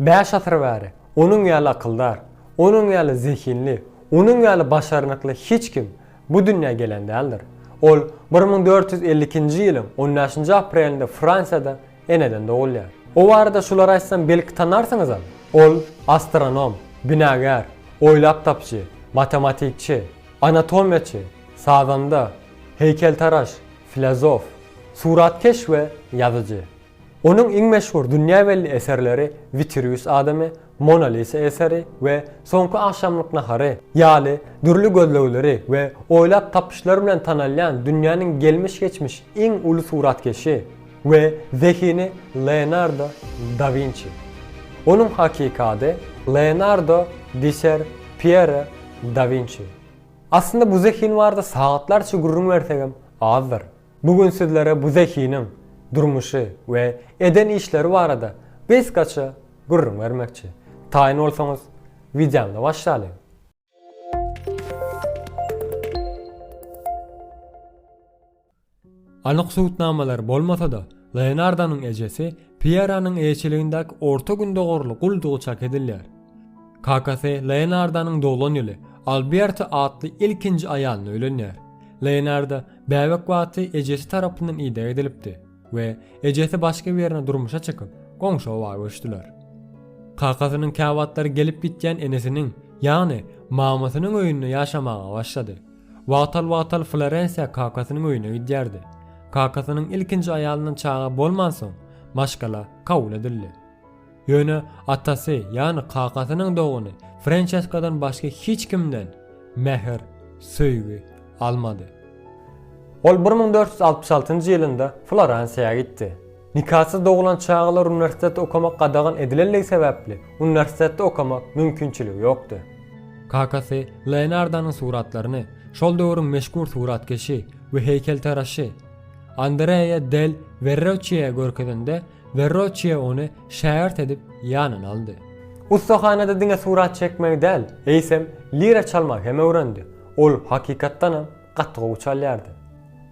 Bäş asyr bäri onuň ýaly akyldar, onuň ýaly zehinli, onuň ýaly başarnykly hiç kim bu dünýä gelen däldir. Ol bir müň dört ýüz elli ikinji ýylyň on bäşinji aprelinde Fransiýada eneden dogulýar. O barada şulary aýtsam belki tanarsyňyzam. Ol astronom, binagär, oýlap tapyjy, matematikçi, anatomiýaçy, sazanda, heýkeltaraş, filozof, suratkeş we ýazyjy. Onuň iň meşhur dünýä belli eserleri Witruwius adamy, Mona Lisa eseri we Soňky agşamlyk nahary ýaly dürli gözlegleri we oýlap tapyşlary bilen tanalýan dünýäniň gelmiş-geçmiş iň uly suratkeşi we zehini Leonardo da Winçi. Onuň hakyky ady Leonardo Diser Piero da Winçi. Aslynda bu zehin barada sagatlarça gürrüň bersegem azdyr. Bu gün sizlere bu zehiniň durmuşy we eden işleri barada gysgaça gürrüň bermekçi. Taýyn bolsaňyz, wideomize başlalyň! Anyk subutnamalar bolmasa-da, Leonardonyň ejesi Pieranyň eýeçiligindäki Orta Gündogarly guldugy çak edilýär. Kakasy Leonardonyň doglan ýyly Alberta atly ilkinji aýalyna öýlenýär. Leonardo bäbek wagty ejesi tarapyndan ideg edilipdi we ejesi başga birine durmuşa çykyp, goňşy oba göçdüler. Kakasynyň käwagtlary gelip gitýän enesiniň, ýagny mamasynyň öýünde ýaşamaga başlady. Wagtal-wagtal Florensiýa kakasynyň öýüne gidýärdi. Kakasynyň ilkinji aýalyndan çaga bolmansoň, maşgala kabul edildi. Ýöne atasy, ýagny kakasynyň dogany Frençeskadan başga hiç kimden mähir, söýgi almady. Ol bir müň dört ýüz altmyş altynjy ýylynda Floransiýa gitdi. Nikasyz doglan çagalar uniwersitetde okamak gadagan edilendigi sebäpli, uniwersitetde okamak mümkinçiligi ýokdy. Kakasy Leonardonyň suratlaryny şol döwrüň meşhur suratkeşi we heýkeltaraşy Andrea del Werroçiä görkezende, Werroçiä ony şägirt edip ýanyna aldy. Ussahanada diňe surat çekmegi däl, eýsem, lira çalmagy hem öwrendi. Ol, hakykatdanam, gaty gowy çalýardy.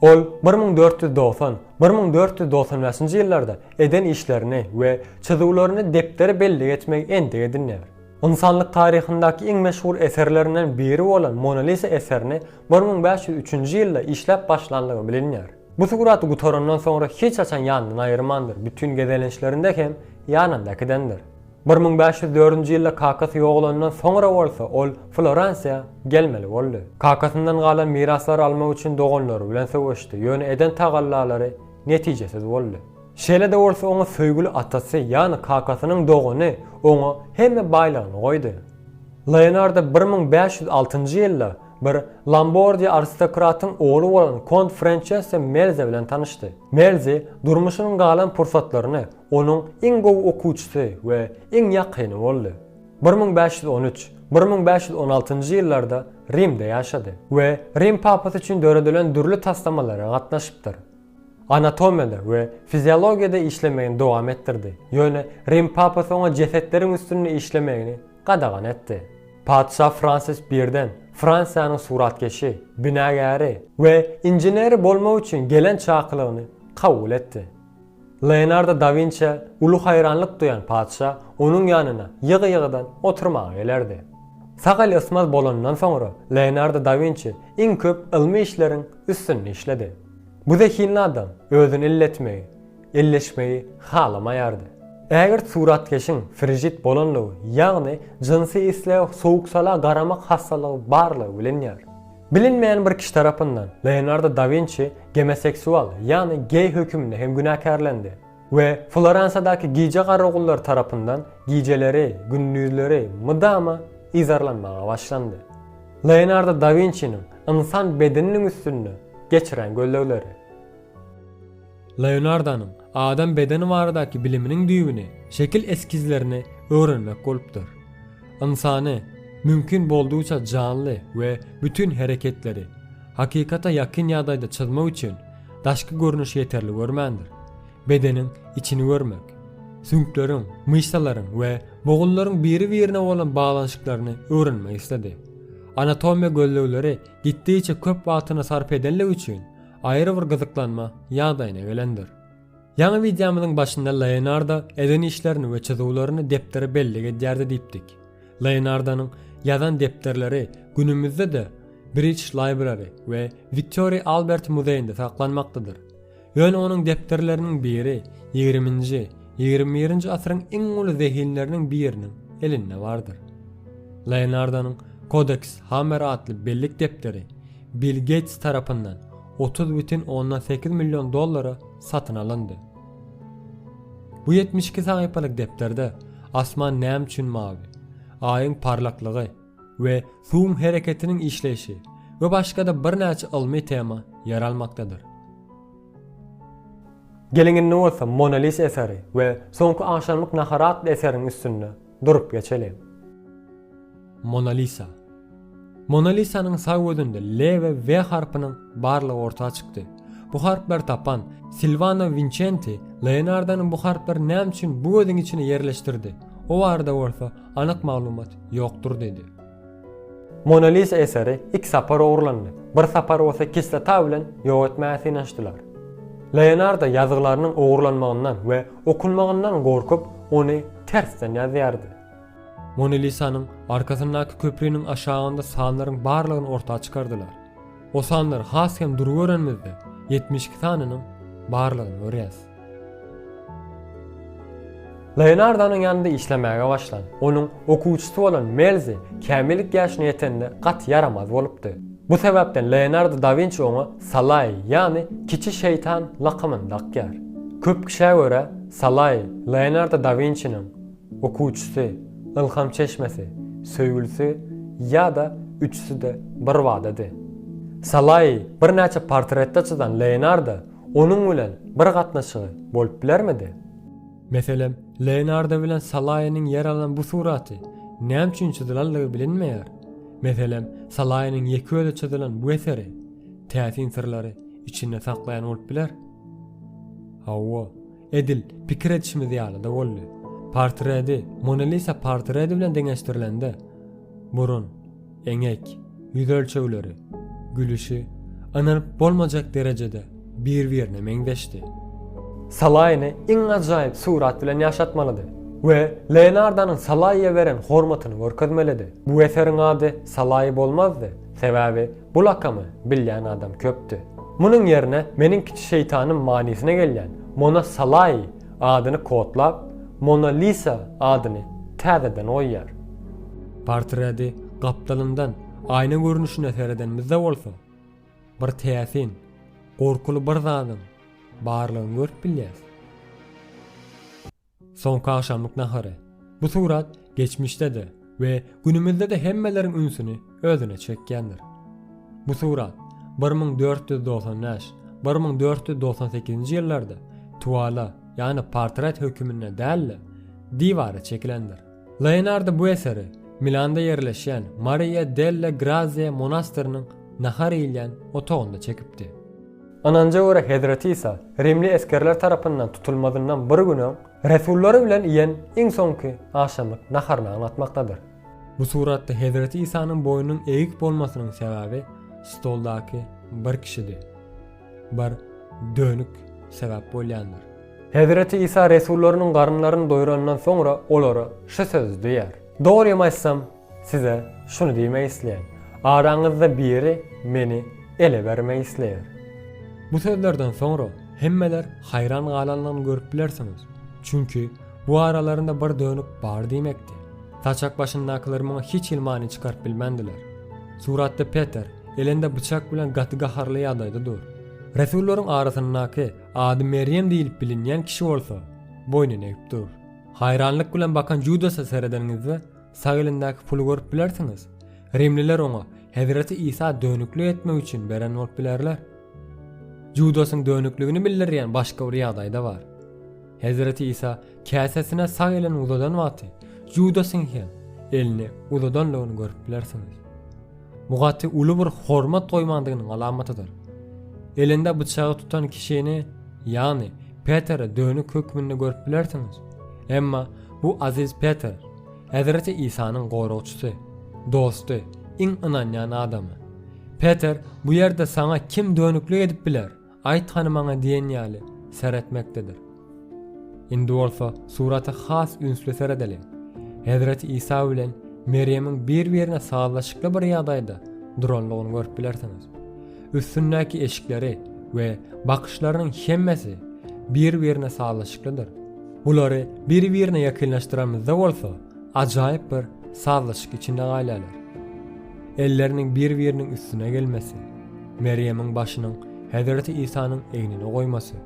Ol bir müň dört ýüz dogsan, bir müň dört ýüz dogsan bäşinji ýyllarda eden işlerini we çyzuwlaryny depdere bellik etmegi endik edinýär. Ynsanlyk taryhyndaky iň meşhur eserlerinden biri bolan Mona Lisa eserini bir müň bäş ýüz üçünji ýylda işläp başlandygy bilinýär. Bu suraty gutarandan soňra hiç haçan ýanyndan aýyrmandyr, bütin gezelençlerinde hem ýanynda äkidendir. Bir müň bäş ýüz dördünji ýylda kakasy ýogalandan soňra bolsa ol Floransiýa gelmeli boldy. Kakasyndan galan miraslary almak üçin doganlary bilen söweşdi, ýöne eden tagallalary netijesiz boldy. Şeýle-de bolsa oňa söýgüli atasy, ýagny kakasynyň dogany oňa hemme baýlygyny goýdy. Leonardo bir müň bäş ýüz altynjy ýylda bir Lombardiýa aristokratyň ogly bolan kont Frençesso Melze bilen tanyşdy. Melze durmuşynyň galan pursatlaryny Onuň iň gowy okuwçysy we iň ýakyny boldy. Bir müň bäş ýüz on üç, bir müň bäş ýüz on altynjy ýyllarda Rimde ýaşady we Rim papasy üçin döredilen dürli taslamalara gatnaşypdyr. Anatomiýada we fiziologiýada işlemegini dowam etdirdi, ýöne Rim papasy oňa jesetleriň üstünde işlemegini gadagan etdi. Patyşa Fransis I-den Fransiýanyň suratkeşi, binagäri we inženeri bolmak üçin gelen çakylygyny kabul etdi. Leonardo da Winçä uly haýranlyk duýan patyşa onuň ýanyna ýygy-ýygydan oturmaga gelerdi. Sagal ysmaz bolanyndan soňra Leonardo da Winçi iň köp ylmy işleriň üstünde işledi. Bu zehinli adam özüni illetmegi, elleşmegi halamaýardy. Ägirt suratkeşiň frijit bolanlygy, ýagny jynsy islege sowuk-sala garamak hassalygy barlygy bilinýär. Bilinmeýän bir kişi tarapyndan Leonardo da Winçi gomoseksual, ýagny geý höküminde hem günäkärlendi we Floransiýadaky gije garagullary tarapyndan gijeleri, gündizleri mydama yzarlanmaga başlandy. Leonardo da Winçiniň ynsan bedeniniň üstünde geçiren gözlegleri. Leonardonyň adam bedeni baradaky biliminiň düýbüni şekil eskizlerini öwrenmek bolupdyr. Ynsany, mümkin boldugyça janly we bütin hereketleri, hakykata ýakyn ýagdaýda çyzmak üçin daşky görnüşi ýeterli görmändir. Bedeniň içini görmek, süňkleriň, myşsalaryň we bogunlaryň biri-birine bolan baglanyşyklaryny öwrenmek isledi. Anatomiýa gözlegleri gitdigiçe köp wagtyny sarp edenligi üçin, aýry bir gyzyklanma ýagdaýyna gelendir. Ýaňy wideomyzyň başynda Leonardo eden işlerini we çyzuwlaryny depdere bellik edýärdi diýipdik. Leonardonyň ýazan depderleri günümizde-de British Library we Wiktoriýa Albert muzeýinde saklanmakdadyr. Ýöne onuň depderleriniň biri ýigriminji, ýigrimi birinji asyryň iň uly zehinleriniň biriniň elinde bardyr. Leonardonyň Codex Hammer atly bellik depderi Bill Geýts tarapyndan otuz bütin ondan sekiz million dollara satyn alyndy. Bu ýetmiş iki sahypalyk depderde asman näme üçin mawy, Aýyň parlaklygy we suwuň hereketiniň işleýşi we başga-da birnäçe ylmy tema ýer almakdadyr. Geliň indi bolsa Mona Lisa eseri we Soňky agşamlyk nahary atly eseriň üstünde Durup geçeliň. Mona Lisa. Mona Lisanyň sag gözünde L we W harpynyň barlygy orta çykdy. Bu harplary tapan Silwano Winçenti Leonardonyň bu harplary näme üçin bu gözüň içine ýerleşdirdi, o barada bolsa anyk maglumat ýokdur diýdi. Mona Lisa eseri iki sapar ogurlandy, bir sapar bolsa kislota bilen ýok etmäge synanyşdylar. Leonardo ýazgylarynyň ogurlanmagyndan we okunmagyndan gorkup, ony tersden ýazýardy. Mona Lisanyň arkasyndaky köpriniň aşagynda sanlaryň barlygyny orta çykardylar. O sanlary has hem dury görenimizde, ýetmiş iki sanynyň barlygyny görýäs. Leonardonyň ýanynda işlemäge başlan, onuň okuwçysy bolan Melzi kämillik ýaşyna ýetende gaty ýaramaz bolupdy. Bu sebäpden Leonardo da Winçi oňa Salaý, ýagny Kiçi şeýtan lakamyny dakýar. Köp kişä görä, Salaý, Leonardo da Winçiniň okuwçysy, ylham çeşmesi, söýgülisi ýa-da üçüsi-de birbadady. Salaýy birnäçe portretde çyzan Leonardo Onuň bilen bir gatnaşygy bolup bilermidi? Meselem, Leonardo bilen Salaýynyň ýer alan bu suraty näme üçin çyzylandygy bilinmeýär. Meselem, Salaýynyň ýeke özi çyzylan bu eseri täsin syrlary içinde saklaýan bolup biler. Hawa, edil pikir edişimiz ýaly-da boldy. Portredi Mona Lisa portredi bilen deňeşdirilende, Burun, eňek, ýüz ölçegleri, gülüşi ynanyp bolmajak derejede bir-birine meňzeşdi. Salaýyny iň ajaýyp surat bilen ýaşatmalydy we Leonardonyň Salaýa beren hormatyny görkezmelidi. Bu eseriň ady Salaýy bolmazdy, sebäbi bu lakamy bilýän adam köpdi. Munuň ýerine meniň kiçi şeýtanym manysyna gelýän Mona Salaýy Adyny kodlap, Mona Lisa adyny täzeden goýýar. Portredi gapdalyndan aýna görnüşine seredenimizde bolsa, bir täsin, gorkuly bir zadyň barlygyny görüp bilýäris. Soňky agşamlyk nahary. Bu surat geçmişde-de, we günümizde-de hemmeleriň ünsüni özüne çekýändir. Bu surat bir müň dört ýüz dogsan bäş, bir müň dört ýüz dogsan sekizinji ýyllarda tuwala, ýagny portret höküminde däl-de, diwara çekilendir. Leonardo bu eseri Milanda ýerleşýän Maria delle Grazie monastyrynyň nahar iýilýän otagynda çekipdi. Ynanja görä Hezreti Isa rimli esgerler tarapyndan tutulmazyndan bir gün öň Resullary bilen iýen iň soňky agşamlyk naharyny aňlatmakdadyr. Bu suratda Hezreti Isanyň boýnunyň eýik bolmasynyň sebäbi stoldaky bir kişidi. Bir dönük sebäp bolýandyr. Hezreti Isa resullarynyň garynlaryny doýranyndan soňra olara şu sözi diýýär. Dogrymy aýtsam, Size şuny diýmek isleýän. Araňyzda biri meni ele bermek isleýär. Bu sözlerden soňra hemmeler haýran galanlygyny görüp bilersiňiz. Çünki, bu aralarynda bir dönük bar diýmekdi. Saçak başyndakylar muňa hiç hili many çykaryp bilmändiler. Suratda Peter elinde byçak bilen gaty gaharly ýagdaýda dur. Resullaryň arasyndaky ady Merýem diýlip bilinýän kişi bolsa, boýnuny egip dur. Haýranlyk bilen bakan Judasa seredeniňizde, Sag elindäki puly görüp bilersiňiz. Rimliler oňa Hezreti Isa dönüklik etmek üçin beren bolup bilerler. Judasyň dönükligini bildirýän başga bir ýagdaý-da bar. Hezreti Isa käsesine sag elini uzadan wagty Judasyň hem elini uzadandygyny görüp bilersiňiz. Bu gaty uly bir hormat goýmandygynyň alamatydyr. Elinde bıçagy tutan kişini, ýagny Peteri dönük hökmünde görüp bilersiňiz. Emma bu aziz Peter Hezreti Isanyň goragçysy, dosty, iň ynanýan adamy. Peter bu ýerde saňa kim dönüklik edip biler, aýt hany maňa diýen ýaly seretmekdedir. Indi bolsa surata has ünsli seredeliň. Hezreti Isa bilen Merýemiň bir-birine sazlaşykly bir ýagdaýda duranlygyny görüp bilersiňiz. Üstündäki eşikleri we bakyşlarynyň hemmesi bir-birine sazlaşyklydyr. Bulary bir-birine ýakynlaşdyranymyzda bolsa, ajaýyp bir sazlaşyk içinde galýarlar. Elleriniň bir-biriniň üstüne gelmesi, Merýemiň başynyň Hezreti Isanyň egnine goýmasy,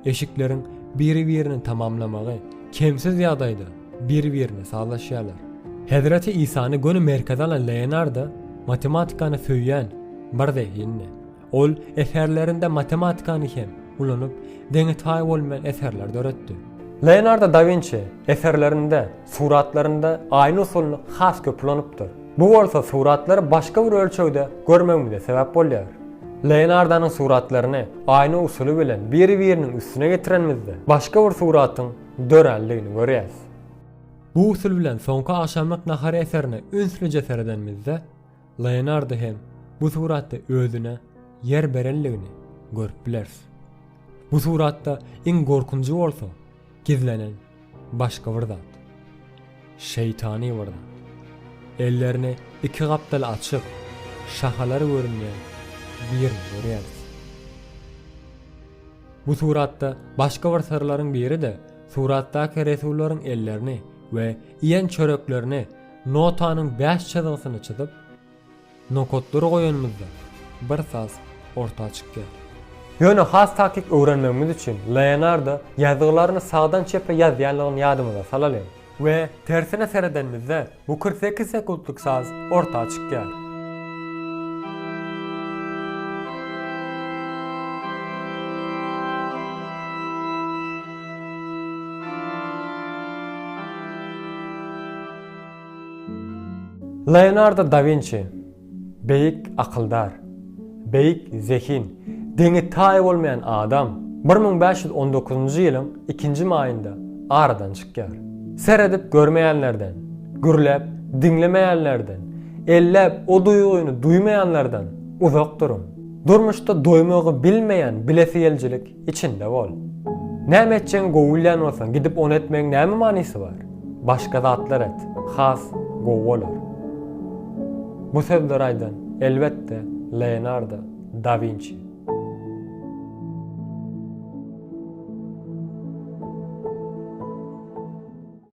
eşikleriň bir-birini tamamlamagy kemsiz ýagdaýda Bir-birine sazlaşýarlar. Hezreti Isany göni merkeze alan Leonardo matematikany söýýän bir zehindi. Ol eserlerinde matematikany hem ulanyp, deňi-taýy bolmaýan eserler döretdi. Leonardo da Winçi eserlerinde, suratlarynda aýyň usulyny has köp ulanypdyr. Bu bolsa suratlary başga bir ölçegde görmegimize sebäp bolýar. Leonardonyň suratlaryny aýna usuly bilen bir-biriniň üstüne getirenimizde, başga bir suratyň dörändigini görýäs. Bu usul bilen soňky agşamlyk nahar eserine ünslije seredenimizde, Leonardo hem bu suratda özüne ýer berenligini görüp bileris. Bu suratda iň gorkunjy bolsa, gizlenen başga bir zat. Şeýtany bir zat. Ellerini iki gapdala açyp, şahalary görünýän birini görýäris. Bu suratda başga bir syrlaryň biri-de suratdaky resullaryň ellerini we iýen çöreklerini notanyň bäş çyzgysyny çyzyp, nokatlary goýanymyzda bir saz orta çykýar. Ýöne has takyk öwrenmegimiz üçin Leonardo ýazgylaryny sagdan çepe ýazýanlygyny ýadymyza salalyň. We tersine seredenimizde bu kyrk sekiz sekuntlyk saz orta çykýar. Leonardo da Winçi. Beýik akyldar, beýik zehin, deňi-taýy bolmaýan adam bir müň bäş ýüz on dokuzynjy ýylyň ikinji maýynda aradan çykýar. Seredip görmeýänlerden, gürläp diňlemeýänlerden, elläp o duýgyny duýmaýanlardan uzak duruň. Durmuşda doýmagy bilmeýän bilesigelijilik Içinde bol. Näme etjegini gowy bilýän bolsaň, gidip ony etmegiň näme manysy bar? Başga zatlar et, has gowy bolar. Bu sözleri aýdan, elbetde, Leonardo da Winçi.